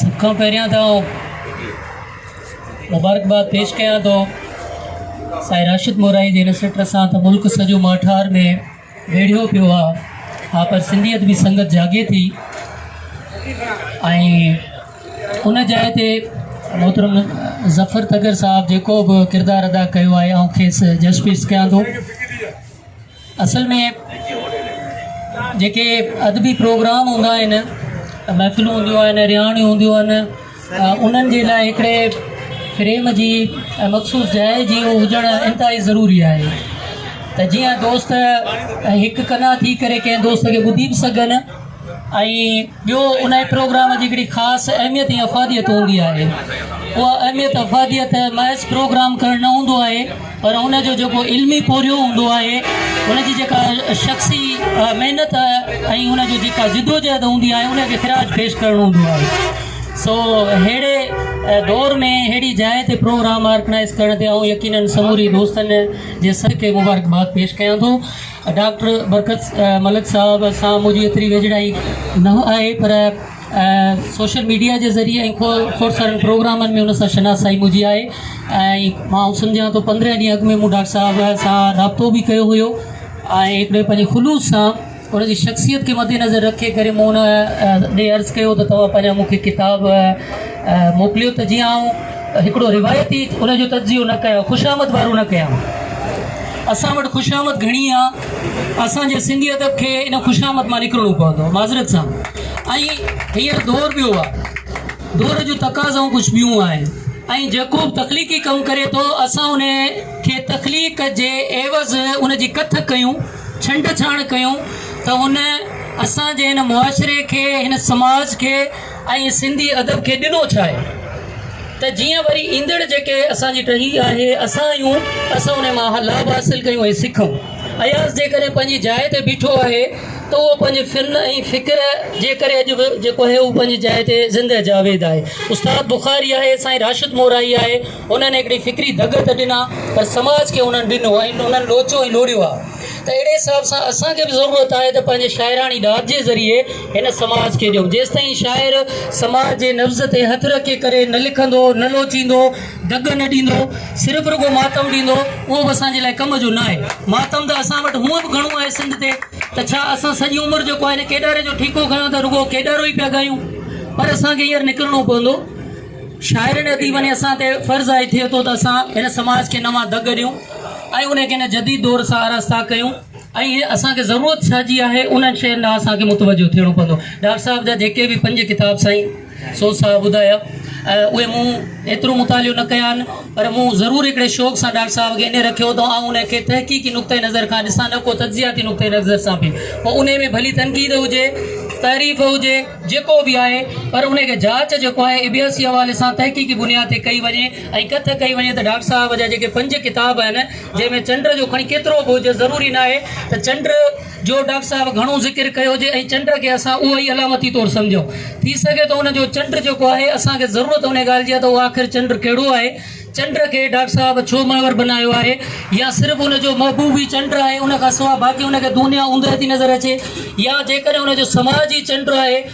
سڀ کان پهريان ته آئون مبارڪباد پيش ڪيان ٿو سائين راشد مورائي جي هن سٽ سان ته ملڪ سڄو ماٺار ۾ ويڙهيو پيو آ ها پر سنڌيت به سنگت جاڳي ٿي ۽ ان جاء تي محترم ظفر تگر صاحب جيڪو به ڪردار ادا ڪيو آهي آئون کيس جسٽس ڪيان ٿو اصل ۾ جيڪي ادبي پروگرام هوندا آهن محفلون هونديون آهن رهاڻيون هونديون آهن انهن جي لاء هڪڙي فريم جي ۽ مخصوص جاء جي هجڻ انتهائي ضروري آهي ته جيئن دوست هڪ ڪنا ٿي ڪري ڪنهن دوست کي ٻڌي به سگهن ۽ ٻيو انهيء پروگرام جي هڪڙي خاص اهميت ۽ افاديت هوندي آهي. اها اهميت افاديت محض پروگرام ڪرڻ نه هوندو آهي پر ان جو جيڪو علمي پورهيو هوندو آهي، ان جي جيڪا شخصي محنت ۽ ان جي جيڪا جدوجهد هوندي آهي انهيء کي خراج پيش ڪرڻ هوندو آهي. سو ههڙي دور ۾ ههڙي جاء تي پروگرام آرڪنائيز ڪرڻ تي آئون يقينن سموري دوستن جي صدقي مبارڪباد پيش ڪيان ٿو. ڊاڪٽر برڪت ملڪ صاحب سان منهنجي ايتري ويجهڙائي نه آهي پر سوشل ميڊيا جي ذريعي ۽ کوڙ سارن پروگرامن ۾ ان سان شناسائي منهنجي آهي ۽ مان سمجهان ٿو پندرهن ڏينهن اڳ ۾ مون ڊاڪٽر صاحب سان رابطو به ڪيو هيو ۽ هڪڙي پنهنجي خلوص سان ان جي شخصيت کي مد نظر رکي ڪري مون ان ڏي عرض ڪيو ته توهان پنهنجا مون کي ڪتاب موڪليو ته جيئن آئون ته هڪڙو روايتي ان جو تجزيو نه ڪيا خوشامد وارو نه ڪيا اسان وٽ خوشامد گهڻي آ اسان جي سنڌي ادب کي ان خوشامد مان نڪرڻو پوندو معذرت سان ۽ هيئر دور ٻيو آ دور جو تقاضائون ڪجهه ٻيون آهن ۽ جيڪو به تخليقي ڪم ڪري ٿو اسان ان کي تخليق جي عيوض ان جي ڪٿ ڪيون ڇنڊ ڇاڻ ڪيون ته ان اسان جي هن معاشري کي هن سماج کي ۽ سنڌي ادب کي ڏنو ڇا آهي ته جيئن وري ايندڙ جيڪي اسان جي ٽهي آهي اسان آهيون اسان ان مان لاڀ حاصل ڪيون ۽ سکون اياز جيڪڏهن پنهنجي جاء تي بيٺو آهي ته اهو پنهنجي فن ۽ فڪر جي ڪري اڄ به جيڪو آهي اهو پنهنجي جاء تي زنده جاويد آهي استاد بخاري آهي سائين راشد مورائي آهي انهن هڪڙي فڪري دڳ ته ڏنا پر سماج کي انهن ڏنو ۽ انهن لوچو ۽ لوڙيو آهي ته اهڙي حساب سان اسان کي به ضرورت آهي ته پنهنجي شاعراڻي ڏات جي ذريعي هن سماج کي ڏيو. جيستائين شاعر سماج جي نبض تي هٿ رکي ڪري نه لکندو، نه لوچيندو، دڳ نه ڏيندو، صرف رڳو ماتم ڏيندو، اهو به اسان جي لاء ڪم جو ناهي. ماتم ته اسان وٽ هونء به گهڻو آهي سنڌ تي، ته ڇا اسان سڄي عمر جيڪو آهي نه ڪيڏاري جو ٺيڪو کنيو ته رڳو ڪيڏارو ئي پيا ڳايون. پر اسان کي هينئر نڪرڻو پوندو. شاعرن اديبن ۽ اسان تي فرض آهي ٿئي ٿو ته اسان هن سماج کي نوان دڳ ڏيون ۽ ان کي هن جديد دور سان آراسته ڪيون. ۽ اسان کي ضرورت ڇا جي آهي انهن شين ڏانهن اسان کي متوجهه ٿيڻو پوندو ڊار صاحب جا جيڪي به پنج ڪتاب سائين سوز صاحب ٻڌايا اهي مون ايترو مطالعو نه ڪيا آهن پر مون ضرور هڪڙي شوق سان ڊار صاحب کي انهي رکيو ته آئون انهي کي تحقيقي نقطه نظر کان ڏسان نه ڪو تجزياتي نقطه نظر سان به پوء انهي ۾ ڀلي تنقيد هجي تعريف هجي جيڪو به آهي پر انهي کي جاچ جيڪو آهي ابياسي حوالي سان تحقيقي بنياد تي ڪئي وڃي ۽ ڪٿ ڪئي وڃي ته ڊار صاحب جا جيڪي پنج ڪتاب آهن جنهن ۾ چنڊ جو کڻي ڪيترو به هجي ضروري ناهي ته چنڊ جو ڊاڪٽر صاحب گهڻو ذڪر ڪيو هجي ۽ چنڊ کي اسان اهو ئي علامتي طور سمجهون ٿي سگهي ٿو ان جو چنڊ جيڪو آهي اسان کي ضرورت ان ڳالهه جي آهي ته اهو آخر چنڊ ڪهڙو آهي چنڊ کي ڊاڪٽر صاحب ڇو منور بنايو آهي يا صرف ان جو محبوب ئي چنڊ آهي ان کان سواء باقي ان کي دنيا اوندهه ٿي نظر اچي يا جيڪڏهن ان جو سماج ئي چنڊ آهي